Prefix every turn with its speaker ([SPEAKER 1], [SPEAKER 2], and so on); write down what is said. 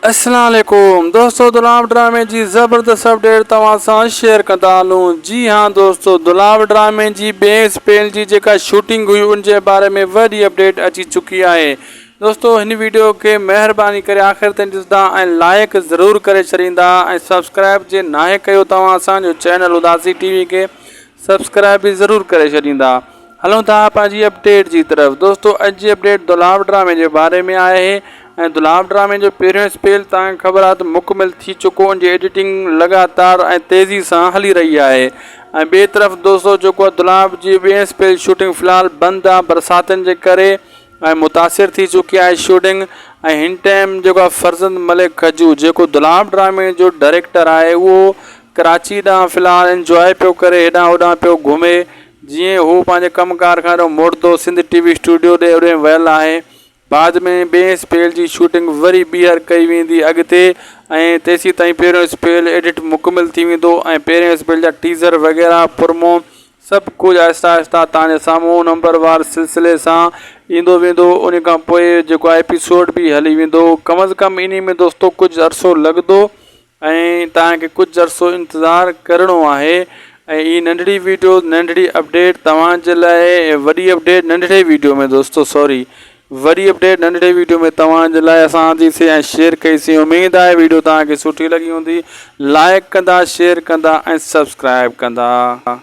[SPEAKER 1] اسلام عليڪم دوستو دلاو ڊرامي جي زبردست اپڊيٽ توهان سان شيئر ڪندا هلون جي ها دوستو دلاو ڊرامي جي ٻئي اسپيل جي جيڪا شوٽنگ هئي ان جي باري ۾ وڏي اپڊيٽ اچي چڪي آهي دوستو هن ويڊيو کي مهرباني ڪري آخر تائين ڏسندا ۽ لائيڪ ضرور ڪري ڇڏيندا ۽ سبسڪرائب جي ناهي ڪيو توهان اسان جو چينل اداسي ٽي وي کي سبسڪرائب به ضرور ڪري ڇڏيندا. هلون ٿا آپا جي اپڊيٽ جي طرف دوستو اڄ جي اپڊيٽ دولاب ڊرامي جي باري ۾ آهي ۽ دولاب ڊرامي جو پهريون اسپيل توهان کي خبر آهي ته مڪمل ٿي چڪو ان جي ايڊيٽنگ لڳاتار ۽ تيزي سان هلي رهي آهي ۽ ٻي طرف دوستو جيڪو آهي دولاب جي ٻين اسپيل شوٽنگ في الحال بند آهي برساتن جي ڪري ۽ متاثر ٿي چڪي آهي شوٽنگ ۽ هن ٽائيم جيڪو آهي فرزند ملڪ کجو جيڪو دولاب ڊرامي جو ڊائريڪٽر آهي اهو ڪراچي ڏانهن في الحال انجواء پيو ڪري هيڏانهن هوڏانهن پيو گهمي جيئن هو پنهنجي ڪم ڪار کان هيڏو موٽندو سنڌ ٽي وي اسٽوڊيو ڏي اوڏي ويل آهي بعد ۾ ٻئي اسپيل جي شوٽنگ وري ٻيهر ڪئي ويندي اڳتي ۽ تيسين تائين پهريون اسپيل ايڊٽ مڪمل ٿي ويندو ۽ پهرين اسپيل جا ٽيزر وغيره پرمو سڀ ڪجهه آهسته آهسته توهان جي سامهون نمبر وار سلسلي سان ايندو ويندو انهي کان پوء جيڪو ايپيسوڊ به هلي ويندو ڪم از ڪم انهي ۾ دوستو ڪجهه عرصو لڳندو ۽ توهان کي ڪجهه عرصو انتظار ڪرڻو آهي ۽ هي ننڍڙي ويڊيو ننڍڙي اپڊيٽ توهان جي لاء وڏي اپڊيٽ ننڍڙي ويڊيو ۾ دوستو سوري وڏي اپڊيٽ ننڍڙي ويڊيو ۾ توهان جي لاء اسان آندي سي ۽ شيئر ڪئي سي اميد آهي ويڊيو توهان کي سٺي لڳي هوندي لائڪ ڪندا شيئر ڪندا ۽ سبسڪرائب ڪندا.